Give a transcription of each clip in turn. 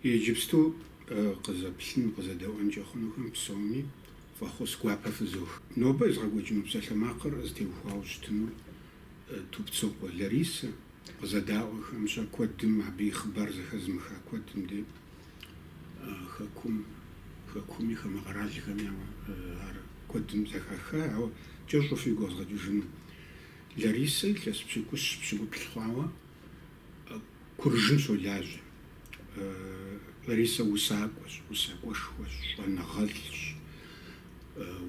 Иджыпсту къызэплъын, къызэдэӏуэнкӏэ хъунухэм псоми фӏэхъус гуапэ фызох. Нобэ езгъэкӏуэкӏыну псалъэмакъыр зытеухуауэ щытынур Тупцокъуэ Ларисэ къызэдаӏуэхэм, щэ куэдым, абы и хъыбар зэхэзымыха куэдым де, Хэкум, Хэкуми, хамэ къэралхэми, ауэ ар куэдым зэхаха. Ауэ кӏэщӏу фигу къэзгъэкӏыжыну Ларисэ илъэс пщыкӏущ пщыкӏуплӏ хъуауэ Куржым щолажьэ. Ларисэ усакӏуэщ, усакӏуэшхуэщ, щӏэныгъэлӏщ,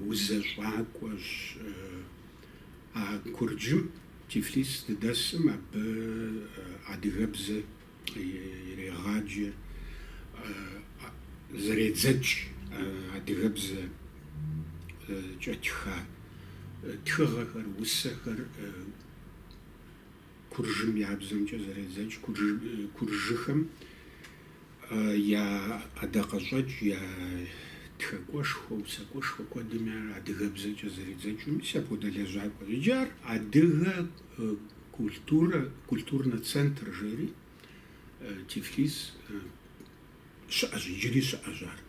узэщӏакӏуэщ. А Курджым, Тифлис здыдэсым, абы адыгэбзэ ирегъаджэ, зэредзэкӏ адыгэбзэкӏэ тха тхыгъэхэр, усэхэр. Куржым я бзэмкӏэ зэредзэкӏ куржыхэм я ӏэдакъэщӏэкӏ, я тхакӏуэшхуэ, усакӏуэшхуэ куэдым я адыгэбзэкӏэ зэредзэкӏ, мис апхуэдэ лэжьакӏуэщ. Иджы ар Адыгэ культурэ, культурнэ центр жери Тифлис щыӏэщ, иджыри щыӏэщ ар.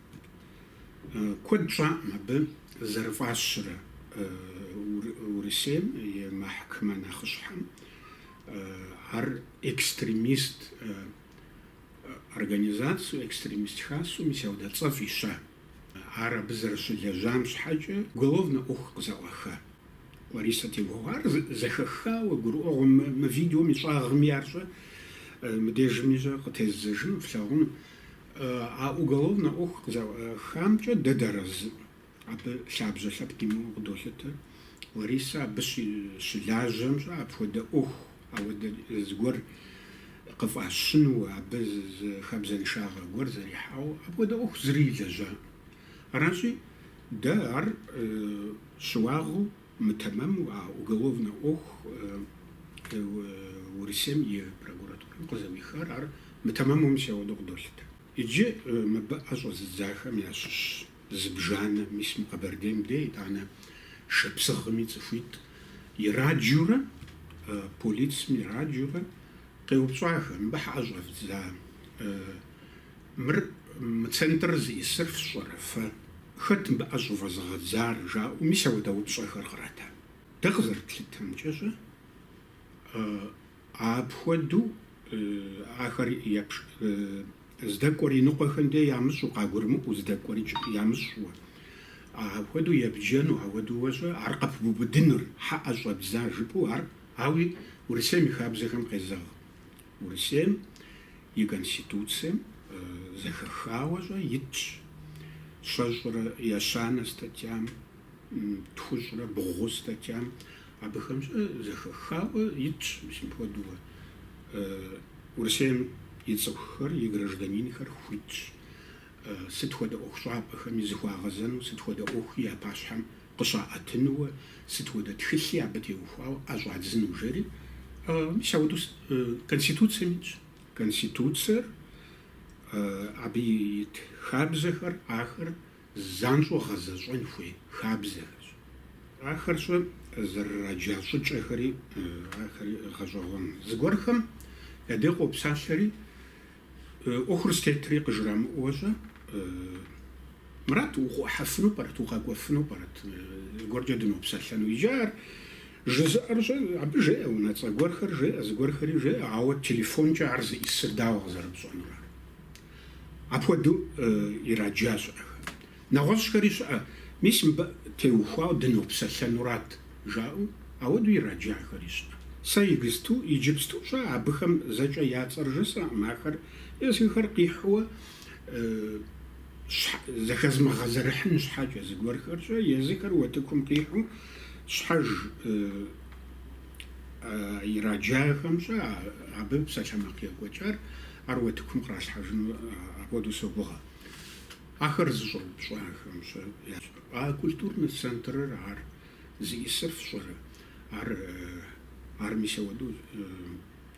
Куэд щӏакъым абы зэрыфӏащырэ Урысейм и мэхькэмэ нэхъыщхьэм ар экстремист организацэу, экстремист хасэу, мис ауэдэ цӏэ фӏища. Ар абы зэрыщылэжьам щхьэкӏэ уголовнэ ӏуэху къызэӏуаха. Ларисэ теухуауэ, ар зэхэхауэ, гурыӏуэгъуэу мы видеом и щӏагъми ар щэ, мыбдежми щэ, къытездзэжыну флъагъуну. А уголовнэ ӏуэху къызэӏуахамкӏэ дэ дыарэзыкъым, абы лъабжьэ лъэпкъ имыӏэу къыдолъытэ. Ларисэ абы щыщылажьэм щэ апхуэдэ ӏуэху Ауэдэ зыгуэр къыфӏащыну абы зы хабзэншагъэ гуэр зэрихьауэ апхуэдэ ӏуэху зыри илэжьакъым. Аращи, дэ ар щыуагъэу мытэмэму а уголовнэ ӏуэху Урысейм и прокуратурэм къызэӏуихар ар мытэмэму, мис ауэдэу къыдолъытэ. Иджы мыбы ӏэ щӏэзыдзахэм ящыщ. Зыбжанэ, мис мы Къэбэрдейм де, итӏанэ шапсыгъми цӏыхуитӏ, ираджэурэ, полицым ираджэурэ, къеупщӏахэ, мыбы щхьэ ӏэ щӏэвдза, мыр мы центрыр зищӏысыр фщӏэрэ фэ, хэт мыбы ӏэ щӏывэзыгъэдзар, жаӏэу, мис ауэдэ упщӏэхэр кърата. Дэ къызэрытлъытэмкӏэ щэ, апхуэдэу ахэр епщӏ. Здэкӏуэр иныкъуэхэм де ямыщӏу, къагурымыӏуэу здэкӏуэрикӏ ямыщӏу. Апхуэдэу ебджэну, ауэдууэ щӏэ ар къыпыбубыдыныр, хьэӏэ щӏэбдза жыпӏэу ар, ауи Урысейм и хабзэхэм къезэгъ. Урысейм и Конституцэм зэхэхауэ щӏэ итщ щэщӏрэ ещанэ статьям. Тхущӏрэ бгъу статьям абыхэм щӏэ зэхэхауэ итщ мис мыпхуэдууэ. Урысейм и цӏыхухэр, и гражданинхэр хуитщ сыт хуэдэ ӏуэхущӏапӏэхэми зыхуагъэзэну, сыт хуэдэ ӏуэхуи я пащхьэм къыщаӏэтынууэ, сыт хуэдэ тхылъи абы теухуауэ ӏэщӏадзыну, жери. Мис ауэдэу Конституцэм итщ. Конституцэр, абы ит хабзэхэр, ахэр. занщӏэу гъэзэщӏэн хуей хабзэхэщ. Ахэр щӏы зэрыраджа щӏыкӏэхэри ахэри гъэщӏэгъуэн. Зыгуэрхэм я дей къопсалъэри, ӏуэхур зытетри къыжрамыӏуэ щӏэ, Мурат, укъыӏухьэфыну пӏэрэт, укъэкӏуэфыну пӏэрэт, зыгуэркӏэ дынопсэлъэну? Иджы ар жызыӏэр щӏы, абы жеӏэ унэцӏэ гуэрхэр, жеӏэ зыгуэрхэри жеӏэ, ауэ телефонкӏэ ар зиӏысыр дауэ къызэрыпщӏэнур ар? Апхуэдэу ираджа щыӏэхэм. Нэгъуэщӏхэри щыӏэ, мис мыбы теухуауэ дынопсэлъэнурат, жаӏэу, ауэдэу ираджахэри щыӏэ. Сэ игысту, иджыпсту щӏэ, абыхэм зэкӏэ я цӏэр жысӏэӏым, ахэр езыхэр къихьуэ зэхэзмыгъэзэрыхьын щхьэкӏэ, зыгуэрхэркӏэ езыхэр утыкум къихьу щхьэж. ираджахэм щӏэ абы псалъэмакъ екӏуэкӏар ар утыкум къралъхьэжыну апхуэдэу согугъэ. Ахэр зыщӏэупщӏахэм щӏэ, а культурнэ центрыр ар зиӏысыр фщӏэрэ? Ар ар мис ауэдэу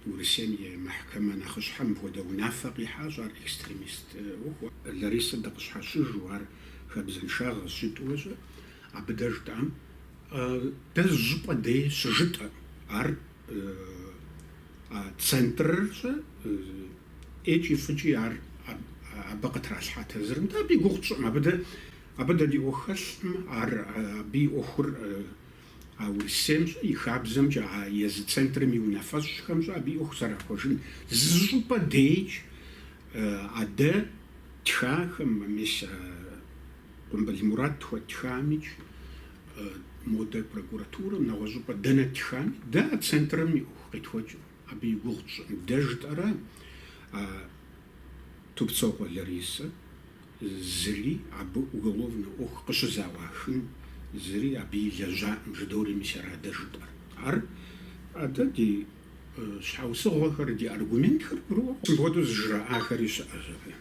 Урысейм и Мэхькэмэ нэхъыщхьэм мыпхуэдэ унафэ къихьащ, ар экстремист ӏуэху. Ларисэ дыкъыщхьэщыжу ар хабзэншагъэ жытӏуэ щӏэ, абы дэ жытӏам Дэ зыщӏыпӏэ дей щыжытӏэ. Ар центрыр щӏэ ӏейкӏи фӏыкӏи ар абы къытралъхьа тезырым дэ абы и гугъу тщӏыӏым. Абы дэ абы дэ ди ӏуэху хэлъым, ар абы и ӏуэхур а Урысейм щӏэ, и хабзэмкӏэ, а езы центрым и унафэщӏхэм щӏэ абы и ӏуэху зэрахуэжын. Зыщӏыпӏэ дейкӏи а дэ ттхахэм, мис Къумпӏыл Мурат тхуэтхамикӏ модэ прокуратурэм, нэгъуэщӏыпӏэ дэнэ ттхами, дэ а центрэм и ӏуэху къетхуэкӏыркъым. Абы и гугъу тщӏын дэ жытӏэрэ а Тупцокъуэ Ларисэ зыри абы уголовнэ ӏуэху къыщӏызэӏуахын зыри абы илэжьакъым, жыдори, мис ара дэ жытӏэр. Ар адэ ди щхьэусыгъуэхэр, ди аргументхэр къру. Мыпхуэдэу зыжраӏахэри щыӏэщ абы.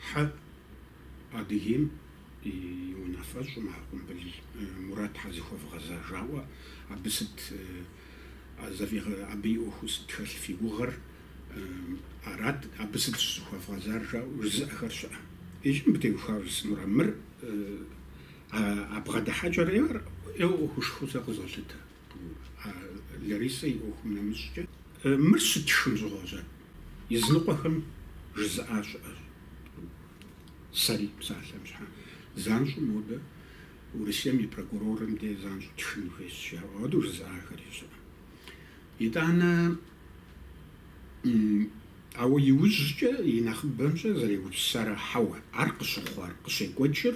Хьэ, Адыгейм и унафэщӏым а Къумпӏыл Мурат щхьэ зыхуэвгъэза жаӏуэ, абы сыт абы и ӏуэхуу сыт хэлъ фи гугъэр, арат, абы сыт щӏызыхуэвгъэзар жаӏэу жызыӏэхэр щыӏэ. Иджы мыбы теухуауэ жысӏэнура мыр а бгъэдыхьэкӏэрэ ӏейуэ ӏуэхушхуэу сэ къызолъытэ. Ларисэ и ӏуэхум нэмыщӏкӏэ. Мыр щыттхым щыгъуэщӏэ языныкъуэхэм жызыӏа щыӏэщ. Сэри псалъэм щхьэ занщӏэу модэ Урысейм и прокурорым де занщӏэу ттхын хуейщ жаӏэу адэу жызыӏахэри щыӏэ. Итӏанэ ауэ иужькӏэ, и нэхъыбэмщӏэ зэрегупсысар хьэуэ, ар къыщыхъуар, къыщекӏуэкӏыр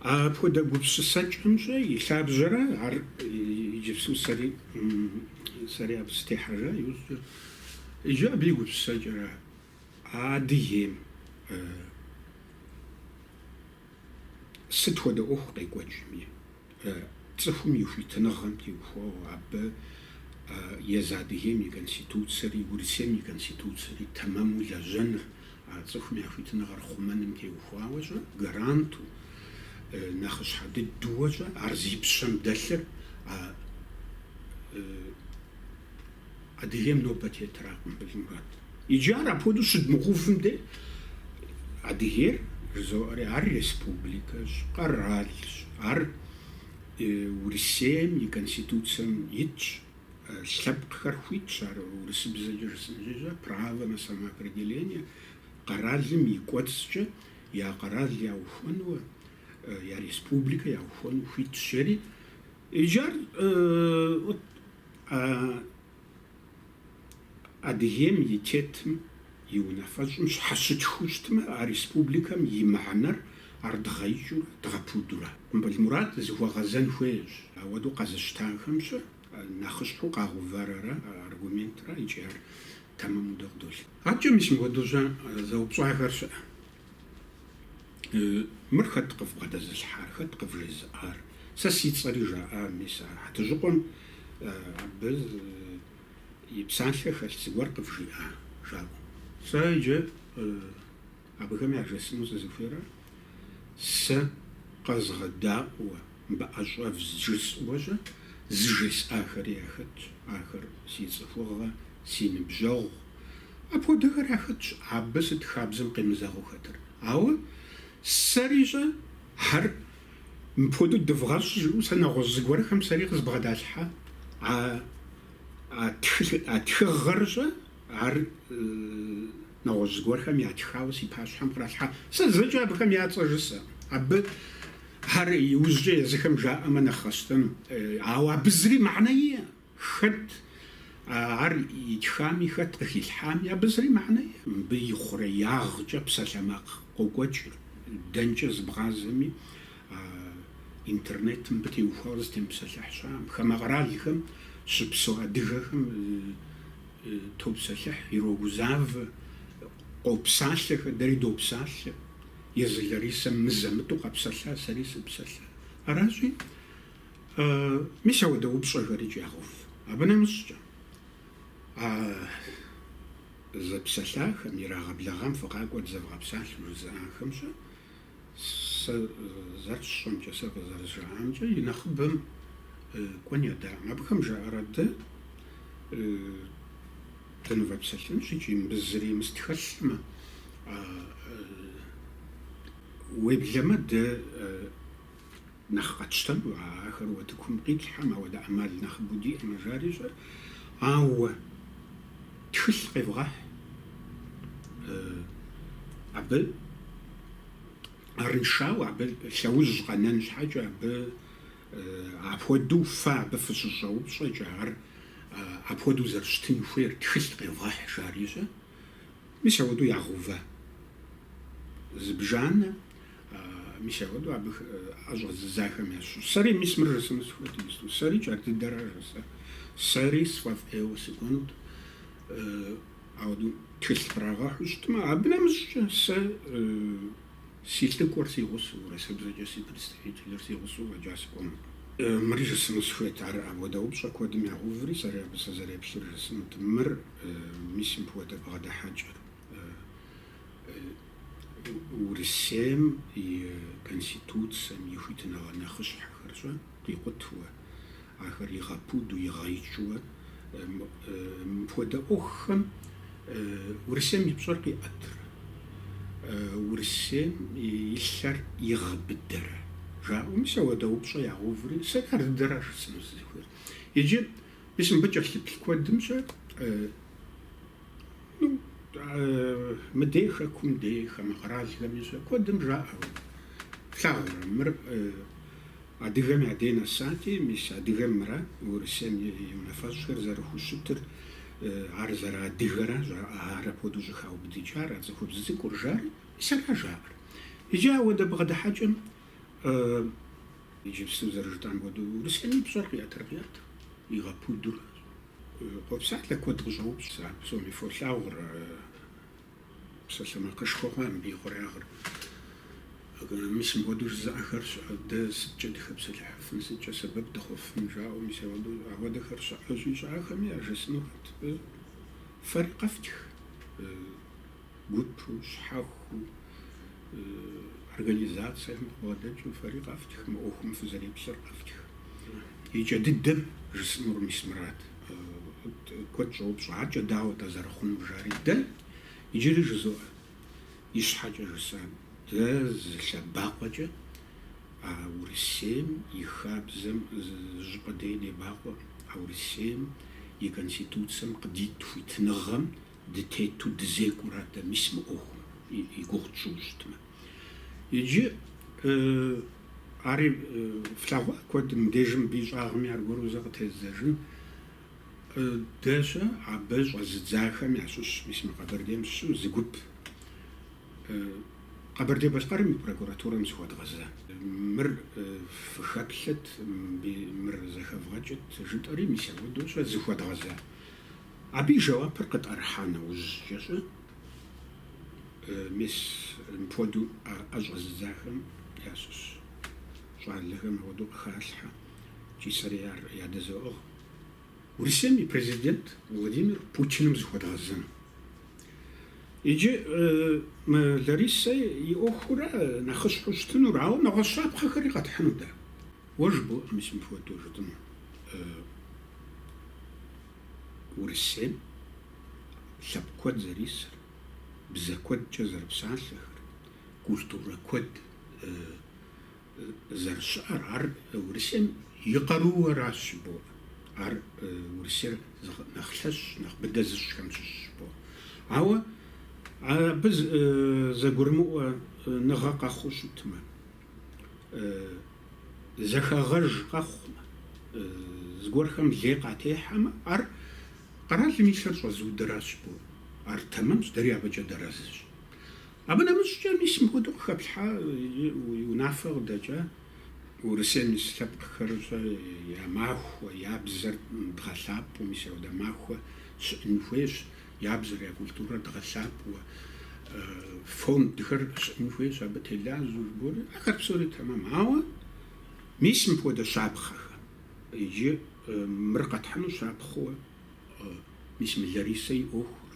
А апхуэдэ гупсысэкӏэмщӏэ и лъабжьэрэ ар иджыпсу сэри, сэри абы сытехьэжа иужькӏэ, иджы абы и гупсысэкӏэрэ а Адыгейм сыт хуэдэ ӏуэху къекӏуэкӏми, Цӏыхум и хуитыныгъэм теухуауэ абы езы Адыгейм и Конституцэри, Урысейм и Конституцэри тэмэму лэжьэныр, а цӏыхум я хуитыныгъэр хъумэным теухуауэщӏэ, гаранту, нэхъыщхьэ дыдууэщӏэ ар зи пщэм дэлъыр а Адыгейм нобэ тетра, Къумпӏыл Мурат. Иджы ар апхуэдэу щыдмыгъувым де, Адыгейр жызоӏэри, ар республикэщ, къэралщ, ар Урысейм и Конституцэм итщ, лъэпкъхэр хуитщ, ар урысыбзэкӏэ жысӏэнщи, право на самоопределение, къэралым и кӏуэцӏкӏэ я къэрал яухуэнуэ, я республикэ яухуэну хуитщ, жери. Иджы ар Адыгейм и тетым и унафэщӏым щхьэщытхыу щытмэ, а республикэм и мыхьэнэр ар дгъэикӏыурэ, дгъэпудурэ. Къумпӏыл Мурат зыхуэгъэзэн хуейщ ауэдэу къэзыщтахэмщӏэ, нэхъыщхьэу къагъувэрэрэ аргументрэ икӏи ар тэмэму дэ къыдолъытэ. Абыкӏэ мис мыхуэдэущӏэ зэупщӏахэр щыӏэ. Мыр хэт къывбгъэдэзылъхьар, хэт къывжезыӏар? Сэ си цӏэри жаӏа мис ар. Хьэтыжьыкъуэм абы и псалъэ хэлъ зыгуэр къывжиӏа жаӏэу. Сэ иджы абыхэм яжесӏэну сызыхуейрэ, сэ къэзгъэдаӏуэ. Мыбы ӏэ щӏэвдз жысӏэу щӏэ зыжесӏахэри яхэтщ, ахэр си цӏыхугъэ, си ныбжьэгъу. Апхуэдэхэр яхэтщ абы сыт хабзэм къемызэгъыу хэтыр. Ауэ сэри щӏэ ар мыпхуэдэу дывгъэщӏ жыӏэу сэ нэгъуэщӏ зыгуэрхэм сэри къызбгъэдалъхьэ. А тхыгъэр щӏэ ар. Нэгъуэщӏ зыгуэрхэм ятхауэ си пащхьэм къралъхьа. Сэ зэкӏэ абыхэм я цӏэ жысӏэ. Абы ар иужькӏэ езыхэм жаӏэмэ нэхъ къэсщтэну. Ауэ абы зыри мыхьэнэ иӏэ. Хэт ар итхами, хэт къыхилъхьами, абы зыри мыхьэнэ иӏэ. Мыбы и хъуреягъкӏэ псалъэмакъ къокӏуэкӏыр. Дэнкӏэ зыбгъазэми, а интернетым мыбы теухуауэ зытемыпсэлъыхь щыӏэкъым. Хамэ къэралхэм щыпсэу адыгэхэм. Топсэлъыхь, ирогузавэ, къопсалъэхэ, дэри допсалъэ. Езы Ларисэм мызэ-мытӏэу къэпсэлъа, сэри сыпсэлъа. Аращи, мис ауэдэ упщӏэхэр икӏи ягъэув. Абы нэмыщӏкӏэ, а зэпсэлъахэм, ирагъэблэгъам фыкъакӏуэ дызэвгъэпсалъэу жызыӏахэм щэ, Сэ зэрысщӏэмкӏэ, сэ къызэрызжаӏамкӏэ, и нэхъыбэм кӏуэн ядаӏым. Абыхэм жаӏэрэ дэ, дынывэпсэлъынщ икӏи мыбы зыримыс тхэлъмэ. Уеблэмэ дэ Нэхъ къэтщтэну а ахэр утыкум къитлъхьэм, ауэ дэ ӏэмал нэхъыбэу диӏэмэ жари щӏэ. Ауэ тхылъ къевгъэхь абы арыншауэ, абы лъэужь къэнэн щхьэкӏэ, абы апхуэдэу фэ абы фыщыщӏэупщӏэкӏэ, ар апхуэдэу зэрыщытын хуейр тхылъ къевгъэхь жари щӏэ. Мис ауэдэу ягъэува зыбжанэ, мис ауэдэу абы ӏэ щӏэзыдзахэм ящыщ. Сэри мис мыр жысӏэну сыхуейт иджыпсту. Сэри икӏи ар дыдэращ жысӏэр. Сэри сфӏэфӏ ӏейуэ сыкӏуэнут. Ауэдэу тхылъ кърагъэхьу щытмэ, абы нэмыщӏкӏэ сэ Си лӏыкӏуэр си гъусэу, урысыбзэкӏэ си представителыр си гъусэу фӏэкӏа сыкӏуэнукъым. Мыри жысӏэну сыхуейт. Ар апхуэдэ упщӏэ куэдым ягъэуври, сэри абы сызэреплъыр жысӏынут. Мыр, мис мыпхуэдэ бгъэдыхьэкӏэр Урысейм и Конституцэм и хуитыныгъэ нэхъыщхьэхэр щӏэ. къикъутуэ, ахэр игъэпуду, игъэикӏыуэ. Мыпхуэдэ ӏуэхухэм Урысейм и пщӏэр къиӏэтырэ? Урысейм и лъэр игъэбыдэрэ? жаӏэу, мис ауэдэ упщӏэ ягъэуври, сэри ар дыдэращ жысӏэну сызыхуейр. Иджы мис мыбы кӏэлъыплъ куэдымкӏэ Ну, мыдей хэкум дей хамэ къэралхэми щэ куэдым жаӏэу. Плъагъурэ, мыр адыгэм я дей нэсати, мис адыгэм мыра Урысейм и унафэщӏхэр зэрыхущытыр, ар зэрыадыгэра жаӏэ, ар апхуэдэу щӏыхаубыдыкӏар, а цӏыхубз цӏыкӏур жари, мис ара жаӏэр. Иджы ауэдэ бгъэдыхьэкӏэм иджыпсту зэрыжытӏам хуэдэу Урысейм и пщӏэр къиӏэтыр къиӏэт, игъэпудуращ. Къопсалъэ куэд къыщӏоупщӏ сэ ар псоми фолъагъур а псалъэмакъышхуэ хъуам и хъуреягъыр. Мис мыпхуэдэу жызыӏэхэр щыӏэ, дэ сыткӏэ дыхэпсэлъыхьыфын, сыткӏэ сэбэп дыхъуфын жаӏэу, мис ауэдэу, ахуэдэхэр щыӏэщи, щыӏэхэми яжесӏэнурат, фэри къэфтх. гупу, щхьэхуу, организацием къыбгъэдэкӏыу фэри къэфтх, мы ӏуэхум фызэреплъыр къэфтх. И кӏэ дыдэм жысӏэнур мис мырат. Куэд щӏоупщӏэ, аркӏэ дауэ атӏэ зэрыхъунур жари? Дэ иджыри жызоӏэ, ищхьэкӏэ жысӏа, дэ зы лъэбакъуэкӏэ а Урысейм и хабзэм зыщӏыпӏэ дей демыбакъуэу, а Урысейм и Конституцэм къыдит хуитыныгъэм Дытету дызекӏуэра дэ, мис мы ӏуэхум и гугъу тщӏыу щытмэ. Иджы ари флъэгъуа куэдым, мыбдежым мыбы и щӏагъми аргуэру зэ къытеззэжын дэ щэ, абы щӏэзыдзахэм ящыщ, мис мы Къэбэрдейм щыщу зы гуп Къэбэрдей-Балъкъэрым и прокуратурэм зыхуэдгъэза. Мыр фыхэплъыт, мыр зэхэвгъэкӏыт жытӏэри, мис ауэдэу щэ зыхуэдгъэза. Абы и жэуапыр къытӏэрыхьа нэужькӏэ щӏы, мис мыпхуэдэу ӏэ щӏэзыдзахэм ящыщ щӏалэхэм апхуэдэу къыхалъхьэ икӏи сэри ар ядэзэӏыгъ, Урысейм и Президент Владимир Путиным зыхуэдгъэзэну. Иджы мы Ларисэ и ӏуэхура нэхъыщхьэу щытынур, ауэ нэгъуэщӏ щапхъэхэри къэтхьыну дэ. Уэ жыбоӏэ мис мыпхуэдэу жытӏэну. Урысейм лъэпкъ куэд зэрисыр, бзэ куэдкӏэ зэрыпсалъэхэр, культурэ куэд зэрыщыӏэр, ар Урысейм и къарууэращ жыбоӏэ. Ар Урысейр нэхъ лъэщ, нэхъ быдэ зыщӏхэм щыщщ жыбоӏэ. Ауэ абы зэгурымыӏуэныгъэ къэхъуу щытмэ, Зэхэгъэж къэхъумэ, зыгуэрхэм лей къатехьэмэ, ар къэралым и лъэр щӏэзыудыращ жыбоӏэ, ар тэмэмщ, дэри абыкӏэ дэрэзыщ. Абы нэмыщӏкӏэ мис мыхуэдэу къыхэплъхьа и унафэ къыдэкӏа Урысейм ис лъэпкъхэр щӏэ я махуэ, я бзэр дгъэлъапӏэу, мис ауэдэ махуэ щыӏын хуейщ. Я бзэр, я культурэр дгъэлъапӏэу, фондхэр щыӏын хуейщ абы телажьэу жыбоӏэри, ахэр псори тэмэм. Ауэ мис мыпхуэдэ щапхъэхэм иджы мыр къэтхьыну щапхъэу мис мы Ларисэ и ӏуэхур.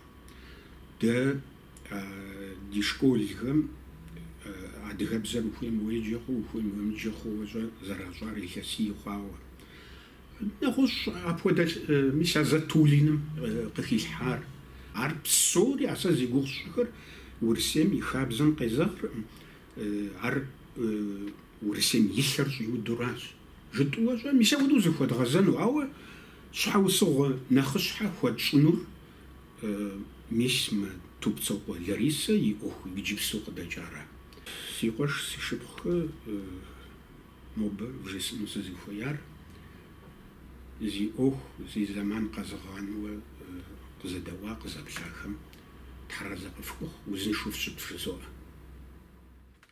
Дэ ди школхэм адыгэбзэр ухуейм уеджэ хъууэ, ухуейм уемыджэ хъууэ щӏэ зэращӏар илъэсий хъуауэ. Нэгъуэщӏ апхуэдэ мис а Затулиным къыхилъхьар. Ар псори, а сэ зи гугъу сщӏыхэр, Урысейм и хабзэм къезэгъркъым, ар Урысейм и лъэр щӏиудуращ жытӏэу щӏэ, мис апхуэдэу зыхуэдгъэзэну, ауэ щхьэусыгъуэ нэхъыщхьэ хуэтщӏынур мис мы Тупцокъуэ Ларисэ и ӏуэху иджыпсту къыдэкӏара. Си къуэш, си шыпхъухэ. Нобэ вжесӏэну сызыхуеяр, зи ӏуэху, зи зэман къэзыгъанэу къызэдэӏуа, къызэплъахэм тхьэразэ къыфхухъу, узыншэу фщыт жызоӏэ.